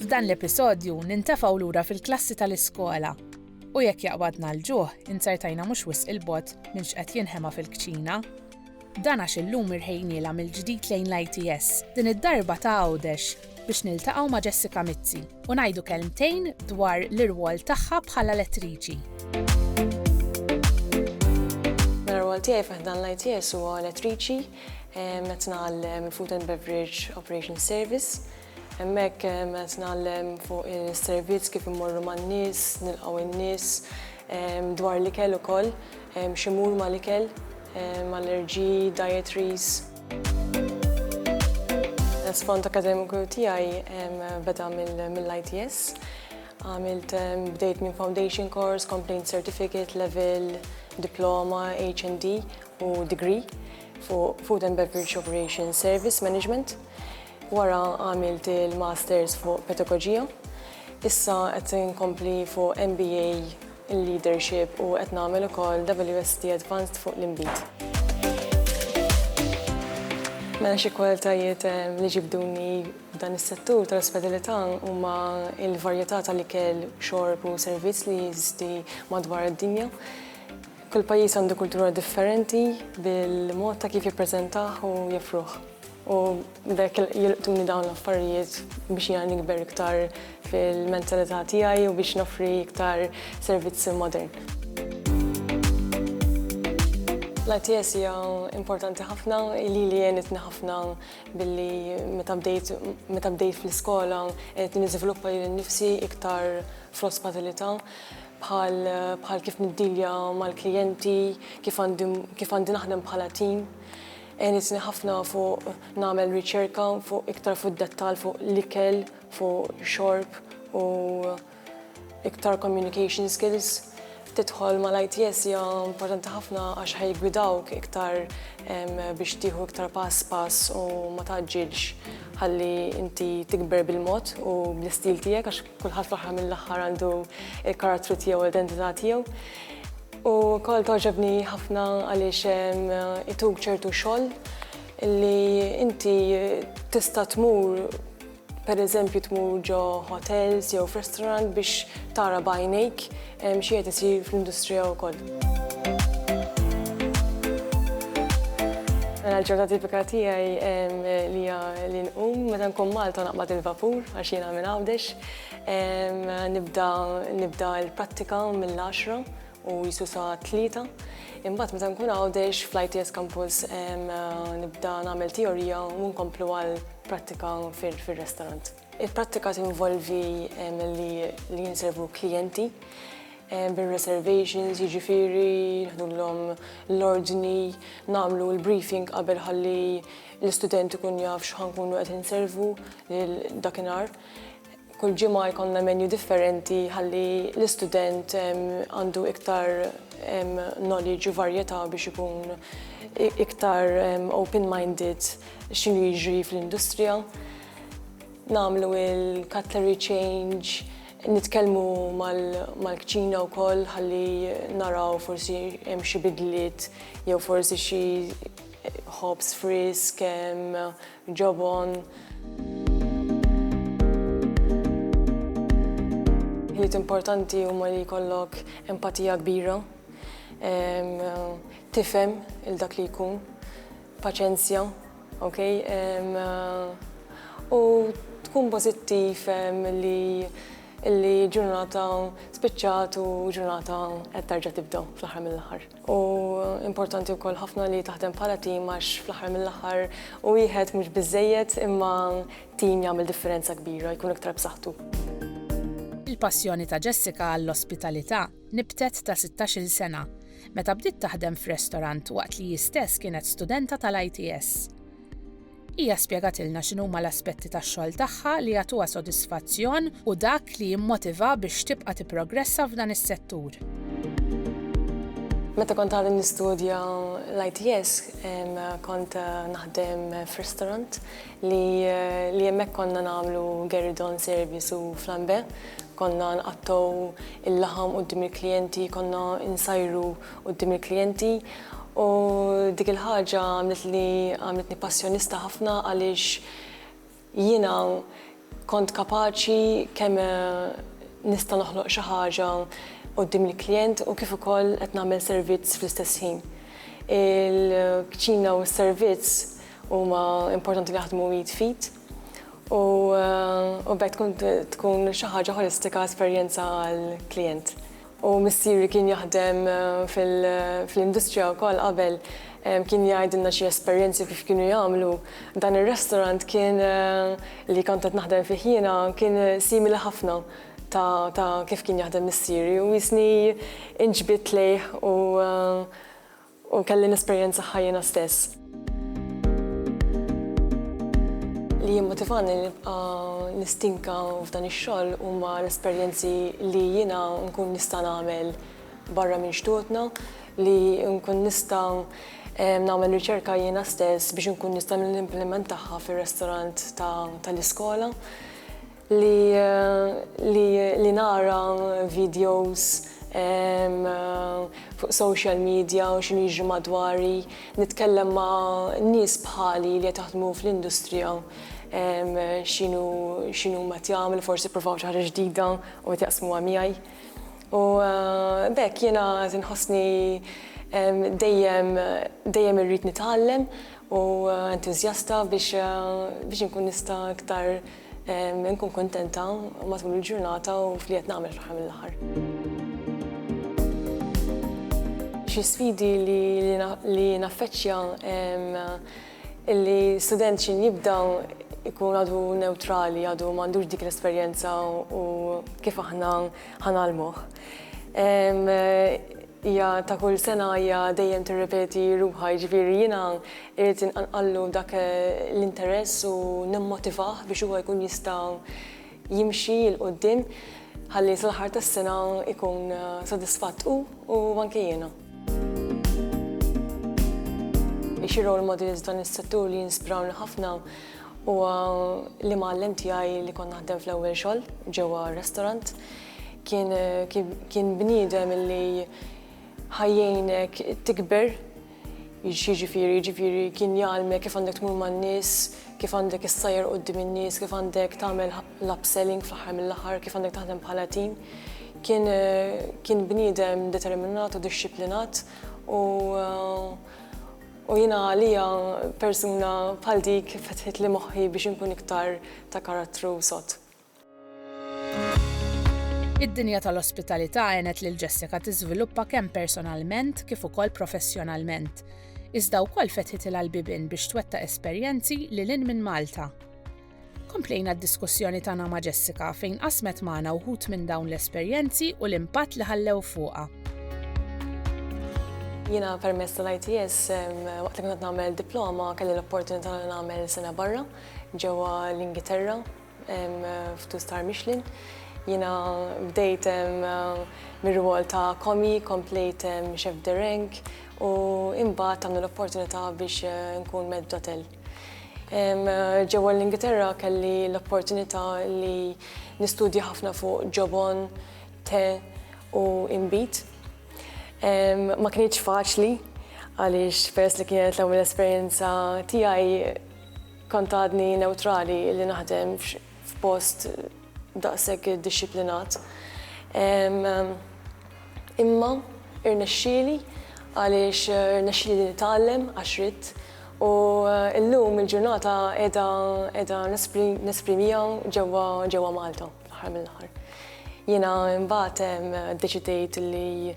F'dan l-episodju nintefgħu lura fil-klassi tal-iskola u jekk jaqbadna l-ġuħ inzertajna mhux wisq il-bot minn x'qed jinħema fil-kċina Dan għax illum irħejniela mill-ġdid lejn l-ITS, din id-darba ta' Għawdex. biex niltaqgħu ma' Jessica Mizzi u ngħidu kelmtejn dwar l-irwol tagħha bħala lettriċi. Mela r-rwol tiegħi fi ħdan l-ITS huwa lettriċi qed nagħllem Food and Beverage Operations Service. Hemmhekk qed nagħllem fuq is-servizz kif immorru man-nies, nilqgħu n-nies, dwar l-ikel ukoll, x'imur mal-ikel, mal-allerġiji, dietaries. L-isfond akademiku tiegħi beda mill-ITS. Għamilt bdejt minn foundation course, complaint certificate, level, diploma, HND u degree fuq Food and Beverage Operation Service Management. Wara għamilt il-masters fuq pedagogija. Issa qed inkompli fuq MBA il-leadership u qed nagħmel ukoll WSET Advanced fuq l-inbid. Mela xi kwalitajiet li ġibduni f'dan is-settur tal-ospitalita' huma l-varjeta' tal-ikel, xorb u servizz li jeżisti madwar id-dinja. Kull pajjiż għandu kultura differenti bil-mod ta' kif jippreżentah u joffruh. U b'hekk jilqtuni dawn l-affarijiet biex jiena nikber iktar fil-mentalità tiegħi u biex noffri iktar servizz modern. L-ITS hija importanti ħafna, lili għenitni ħafna billi meta bdejt meta bdejt fl-iskola għenitni niżviluppa lili nnifsi iktar fl-ospatalità bħal bħal kif niddilja mal-klijenti, kif għandi kif għandi naħdem bħala tim. Għenitni ħafna fuq nagħmel riċerka fuq iktar fuq dettal fuq l-ikel, fuq xorb u iktar communication skills. Tidħol mal-ITS hija importanti ħafna għax ħajgwidawk iktar biex tieħu iktar pass pass u ma tgħaġġilx ħalli inti tikber bil-mod u bl-istil tiegħek għax Kulħadd fl-aħħar mill-aħħar għandu l-karattru tiegħu u l-identità tiegħu. U wkoll togħġobni ħafna għaliex ehm, ituk ċertu xogħol li inti tista' tmur per eżempju tmur ġo hotels jew f'restaurant biex tara bajnejk Hemm xi qed isir fl-industrija wkoll. Mela l-ġurnata tipika tiegħi li hija li nqum meta nkun Malta naqbad il-vapur għax jiena minn Għawdex. Nibda nibda l-prattika mill-għaxra u jisu sa tlieta. Imbagħad meta nkun Għawdex fl-ITS Campus nibda nagħmel teorija u nkomplu għall-prattika fir-restaurant. Il-prattika tinvolvi li jinservu klijenti bir-reservations, jiġifieri neħdullhom l-ordni, nagħmlu l-briefing qabel ħalli l-istudent ikun jaf x'ħa nkunu qed inservu dakinhar. Kull ġimgħa jkollna menu differenti ħalli l-istudent għandu iktar knowledge u varjetà biex ikun iktar open-minded x'inhu jiġri fl-industrija. Nagħmlu il-cutlery change, nitkellmu mal-kċina wkoll ħalli naraw forsi hemm xi bidliet jew forsi xi ħobż frisk, ġobon. Ħiliet importanti huma li jkollok empatija kbira, tifhem lil dak li jkun, Paċenzja, ok? U tkun pożittiv li li ġurnata spiċċat u ġurnata qed tarġa' tibda fl-aħħar mill-aħħar. U importanti wkoll ħafna li taħdem bħala tim għax fl-aħħar mill-aħħar u wieħed mhux biżżejjed imma tim jagħmel differenza kbira, jkun iktar b'saħħtu. Il-passjoni ta' Jessica għall-ospitalità. Nibtet ta' sittax-il sena, meta bdiet taħdem f'restorant waqt li hi stess kienet studenta tal-ITS. Hija spjegatilna x'inhuma l-aspetti tax-xogħol tagħha li jagħtuha sodisfazzjon u dak li jimmotivha biex tibqa' tipprogressa f'dan is-settur. Meta kont għadni nistudja l-ITS, kont naħdem f'restorant Li li hemmhekk konna nagħmlu gueridon service u flambe. Konna nqattgħu il-laħam quddiem il-klijenti, konna nsajru quddiem il-klijenti u dik il-ħaġa għamlitli għamlitni passjonista ħafna għaliex jiena kont kapaċi kemm nista' noħloq xi ħaġa quddiem il-klijent u kif ukoll qed nagħmel servizz fl-istess ħin. Il-kċina u s-servizz. Huma importanti li jaħdmu id f'id u b'hekk tkun tkun xi ħaġa ħolistika esperjenza għall-klijent. U missieri kien jaħdem fl-industrija wkoll qabel kien jgħidilna xi esperjenzi kif kienu jagħmlu. Dan ir-restaurant kien li kont qed naħdem fih jiena kien simili ħafna ta' ta' kif kien jaħdem missieri u jisni inġbidt lejh u U kelli nesperjenzaha jiena stess. Li jimmotivani li nibqa' nistinka f'dan ix-xogħol huma l-esperjenzi li jiena nkun nista' nagħmel barra minn xtutna, li nkun nista' nagħmel riċerka jiena stess biex inkun nista' nimplimentaha fir-restorant tal-iskola. li li li nara videos fuq social media u x'inhu jiġri madwari, nitkellem ma' nies bħali li qed jaħdmu fl-industrija x'inhu x'inhu huma qed jagħmlu, forsi ppruvaw xi ħaġa ġdida u qed jaqsmuha miegħi. U b'hekk jiena qed inħossni dejjem dejjem irrid nitgħallem u entużjasta biex biex inkun nista' iktar Inkun kuntenta matul il-ġurnata u f'li qed nagħmel fl-aħħar mill-aħħar. Xi sfidi li naffeċċja, illi student x'inhu jibda jkun għadu newtrali, għadu m'għandux dik l-esperjenza u kif aħna Ħa ngħallmuh. Hija ta' kull sena hija dejjem tirripeti ruħha, jiġifieri jiena irrid inqanqallu dak l-interess u nimmotivah biex huwa jkun jista' jimxi 'l quddiem ħalli sal-aħħar tas-sena jkun sodisfatt hu u anke jiena. Hi xi role models f'dan is-settur li jinspirawni ħafna Huwa l-imgħallem tiegħi li kont naħdem fl-ewwel xogħol ġewwa r-restaurant. Kien kien bniedem illi ħajjejnek tikber, jiġifieri jiġifieri kien jgħallmek kif għandek tmur man-nies, kif għandek issajjar quddiem in-nies, kif għandek tagħmel l-upselling fl-aħħar mill-aħħar, kif għandek taħdem bħala tim. Kien kien bniedem determinat u dixxiplinat u U jiena għalija persuna bħal dik fetħitli moħħi biex inkun iktar ta' karattru sod. Id-dinja tal-ospitalità għenet lil Jessica tiżviluppa kemm personalment kif ukoll professjonalment, iżda wkoll fetħitilha l-bibien biex twettaq esperjenzi lil hinn minn Malta. Komplejna d-diskussjoni tagħna ma' Jessica fejn qasmet magħna wħud minn dawn l-esperjenzi u l-impatt li ħallew fuqha. Jiena permess tal-ITS waqt li kont nagħmel diploma kelli l-opportunità li nagħmel sena barra ġewwa l-Ingilterra f'tu star Michelin. Jiena bdejt mir-rwol ta' komi, komplejt chef de rank u imbagħad għamlu l-opportunità biex eh, nkun med d'hotel. Ġewwa l-Ingilterra kelli l-opportunità li nistudja ħafna fuq ġobon, te u imbit. Ma kienx faċli għaliex peress li kienet l-ewwel esperjenza tiegħi kont għadni neutrali li naħdem f'post daqshekk iddixxiplinat. Imma rnexxieli għaliex rnexxieli li nitgħallem għax ridt u llum il-ġurnata qiegħda qiegħda nesprimiha ġewwa ġewwa Malta fl-aħħar mill-aħħar. Jiena imbagħad ddeċidejt li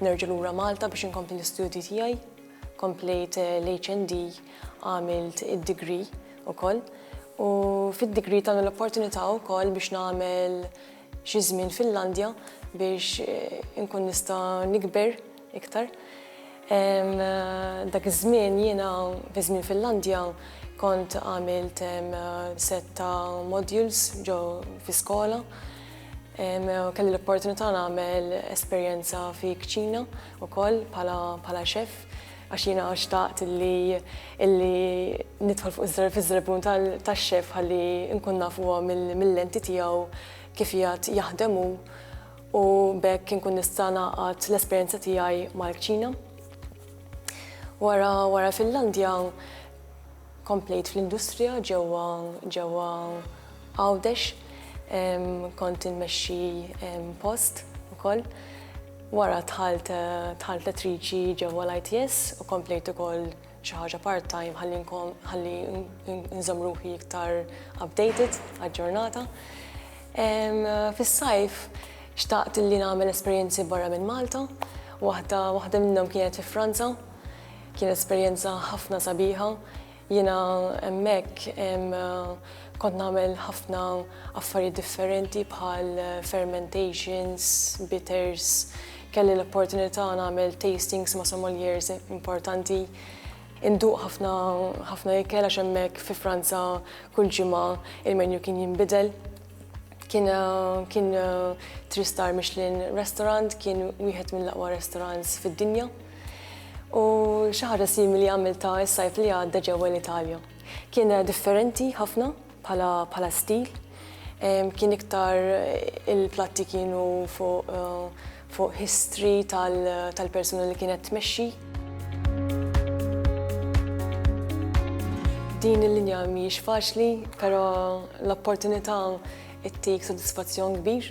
nerġa' lura Malta biex inkompli l-istudji tiegħi. Komplejt l-HND, għamilt id-degree ukoll u fid-degree tawni l-opportunità wkoll biex nagħmel xi żmien fil-Landja biex inkun nista' nikber iktar. Dak iż-żmien jiena fi żmien fil-Landja kont għamilt sett ta' modules ġo fi skola, kelli l-opportunità nagħmel esperjenza fi kċina, ukoll bħala bħala xef għax jiena xtaqt li illi nidħol fuq iż-żar fiż-żarbun tax-xef ħalli nkun naf huwa mill-lenti tiegħu kif jgħad jaħdem hu u bekk inkun nista' naqgħad l-esperjenza tiegħi mal-kċina. Wara wara Finlandja Komplejt fl-industrija ġewwa ġewwa Għawdex. Kont inmexxi post ukoll. Wara dħalt dħalt lettriċi ġewwa l-ITS u komplejt ukoll xi ħaġa part-time ħalli nkun ħalli nżomm ruħi iktar updated, aġġornata. Fis-sajf xtaqt li nagħmel esperjenzi barra minn Malta. Waħda waħda minnhom kienet fi Franza. Kien esperjenza ħafna sabiħa. Jiena hemmhekk kont nagħmel ħafna affarijiet differenti bħal fermentations, bitters, kelli l-opportunità nagħmel tastings ma' sommeliers importanti, induq ħafna ħafna ikel għax hemmhekk fi Franza kull ġimgħa il-menu kien jinbidel. Kien kien three star Michelin restaurant, kien wieħed mill-aqwa restaurants fid-dinja. U xi ħaġa simili għamiltha s-sajf li għadda ġewwa l-Italja. Kien differenti ħafna bħala stil, kien iktar il-platti kienu fuq history tal-persuna li kienet tmexxi. Din il-linja mhijiex faċli, però l-opportunità ttik sodisfazzjon kbir.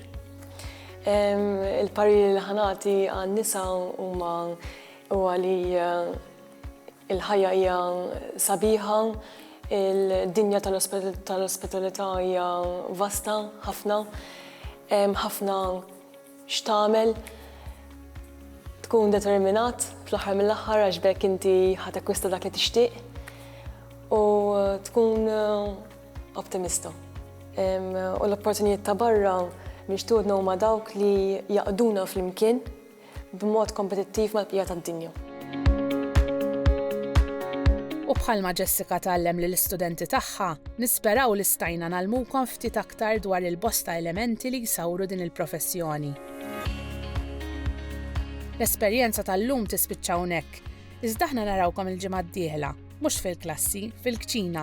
Il-pariri li ħanati għan-nisa huma huwa li il-ħajja hija sabiħa, il-dinja tal-ospitalità hija vasta ħafna, ħafna x'tagħmel, tkun determinat fl-aħħar mill-aħħar għax bekk inti ħatekwista dak li tixtieq u tkun Optimista. U l-opportunijiet ta' barra mixtudna huma dawk li jaqduna flimkien b'mod kompetittiv mal-bqija tad-dinja. U bħalma Jessica tgħallem lill-istudenti tagħha, nisperaw li stajna ngħallmukom ftit aktar dwar il-bosta elementi li jsawru din il-professjoni. L-esperjenza tal-lum tispiċċa hawnhekk, iżda aħna narawkom il-ġimgħa d-dieħla, mhux fil-klassi, fil-kċina,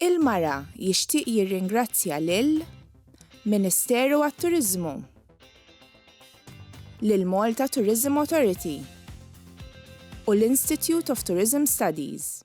Il-Mara jixtieq jirringrazzja lil Ministeru għat-Turiżmu, lill-Malta Tourism Authority u l-Institute of Tourism Studies.